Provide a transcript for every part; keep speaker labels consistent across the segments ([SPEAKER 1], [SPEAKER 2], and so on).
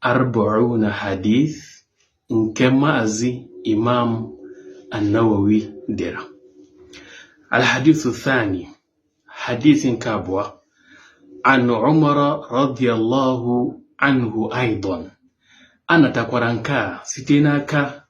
[SPEAKER 1] Arba'una Hadith nke Maazị Imam An-Nawawi dere Al-Hadithu Thani Hadith nke abụọ an Umar radiyallahu anhu aidan a natakwara nke a site n'aka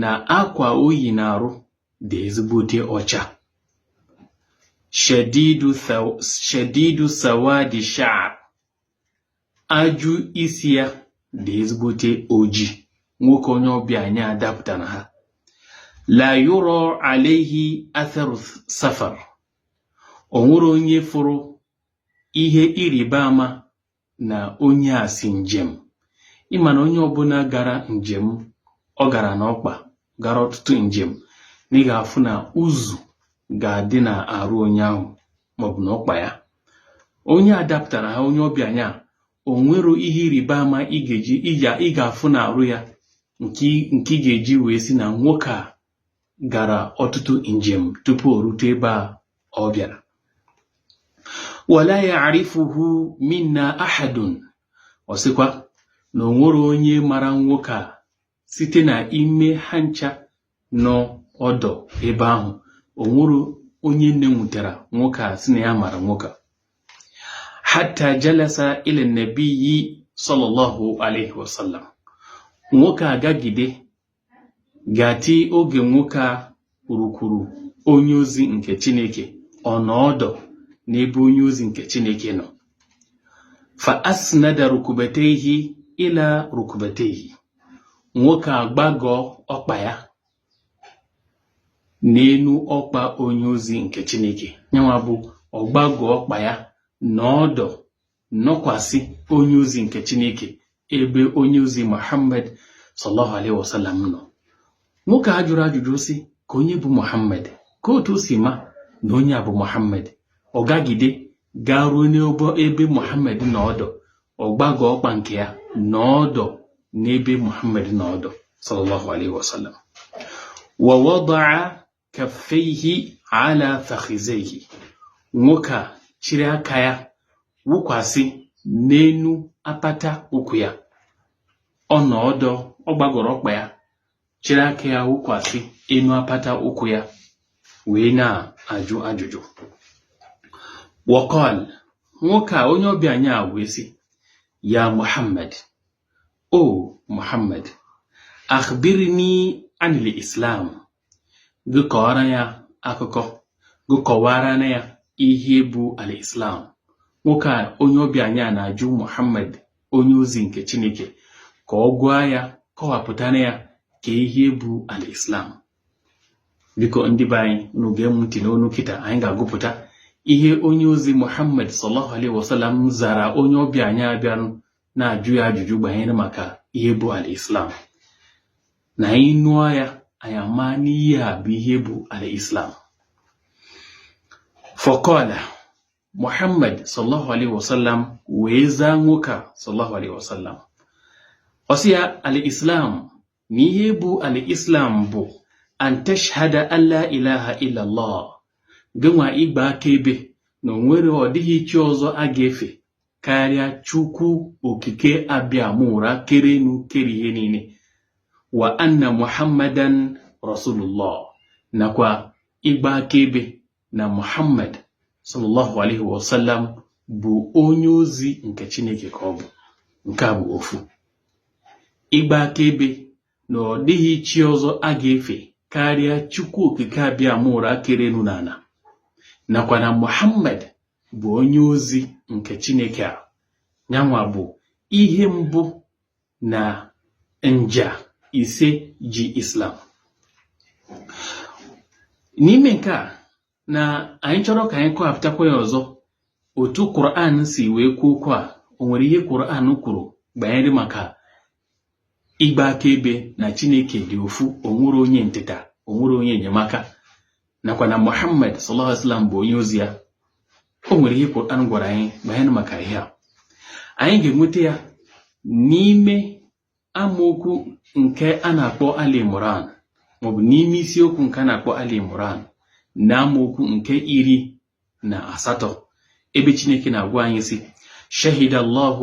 [SPEAKER 1] na akwa o yi n'arụ dị ezigbote ọcha shadidu sawadi sha'ar ajị isi ya dị ezigbote oji nwoke onye ọbịa anyị a dapụtara ha la yura alayhi atharu safar o nwero onye fụrụ ihe ịrịba ama na onye a si njem ị ma na onye ọbụla gara njem ọ gara n'ọkpa gara ọtụtụ njem na ị ga-afụ na uzu ga-adị na arụ onye ahụ maọbụ na ọkpa ya onye a dapụtara ha onye ọbịa nya a o nwero ihe ịrịba ama ị ga-eji ị ga-afụ na arụ ya nke ị ga-eji wee sị na nwoke a gara ọtụtụ njem tupu o rute ebe a ọ bịara wala ya'rifuhu minna ahadun ọ sịkwa na o nwero onye mara nwoke a site na ime ha ncha nọ ọdọ ebe ahụ o nwero onye nne nwutara nwoke a sị na ya mara nwoke a hatta jalasa ila nabiyyi sallallahu alaihi wasallam nwoke a gagide ga-ati oge nwoke a rukwuru onye ozi nke Chineke ọ nọ ọdọ n'ebe onye ozi nke Chineke nọ fa asnada rukbatayhi ila rukbatayhi nwoke a gbagọọ ọkpa ya n'elu ọkpa onye ozi nke Chineke nyanwa bụ ọ gbagọ ọkpa ya nọ ọdọ nọkwasị onye ozi nke Chineke ebe onye ozi Muhammad sallallahu alaihi wasallam nọ nwoke a ajụrọ ajụjụ sị ka onye bụ Muhammad ka otu o si ma na onye a bụ Muhammad ọ gagide gaa ruo n'ebe ebe Muhammad nọ ọdọ ọ gbagọ ọkpa nke ya nọ ọdọ n'ebe Muhammad nọ ọdọ sallallahu alaihi wasallam wa wada'a kaffeihi ala fakhizeihi nwoke a chịrị aka ya wụkwasị n'enu apata ụkwụ ya ọ nọ ọdọ ọ gbagọrọ ọkpa ya chịrị aka ya wụkwasị enu apata ụkwụ ya wee na-ajụ ajụjụ wa qal nwoke a onye ọbịa anyị a wee sị ya muhammad o muhammad akhbirni anil islam gị kọọra ya akụkọ gị kọwara na ya ihe bụ al-islam nwoke a onye ọbịa anyị a na-ajụ muhammad onye ozi nke chineke ka ọ gwa ya kọwapụtara ya ka ihe bụ al-islam biko ndị be anyị unu gee ntị n'onu kịta anyị ga-agụpụta ihe onye ozi muhammad sallallahu alaihi wasallam zara onye ọbịa anyị a bịanụ na-ajụ ya ajụjụ banyere maka ihe bụ al-islam na anyị nụọ ya anyị ama n'ihe a bụ ihe bụ al-islam faqala muhammad sallallahu alaihi wasallam wee zaa nwoke a sallallahu alaihi wasallam ọ sị ya al-islam na ihe bụ al-islam bụ an tashhada an la ilaha illallah gịnwa ịgba akaebe na o nwere ọ dịghị chi ọzọ a ga-efe karịa chukwu okike abịama ụra kere enu kere ihe niine wa anna muhammadan rasulullah nakwa ịgba akaebe na Muhammad sallallahu alaihi wasallam bụ onye ozi nke Chineke ka ọ bụ nke a bụ ofu ịgba akaebe na ọ dịghị chi ọzọ a ga-efe karịa Chukwu Okike Abịama ụra kere enu na ana nakwa na Muhammad bụ onye ozi nke Chineke a nyanwa bụ ihe mbụ na nja ise ji Islam n'ime nke a na anyị chọrọ ka anyị kọwapụtakwa ya ọzọ otu Quran si wee kwuo okwu a o nwere ihe Quran kwuru banyere maka ịgba akaebe na Chineke dị ofu o nwero onye ntịta o nwero onye enyemaka nakwa na Muhammad sallallahu alaihi wasallam bụ onye ozi ya o nwere ihe Quran gwara anyị banyere maka ihe a anyị ga-enweta ya n'ime amaokwu nke a na-akpọ Ali Imran maọbụ n'ime isiokwu nke a na-akpọ Ali Imran na amaokwu nke iri na asatọ ebe Chineke na-agwa anyị sị shahida Allahu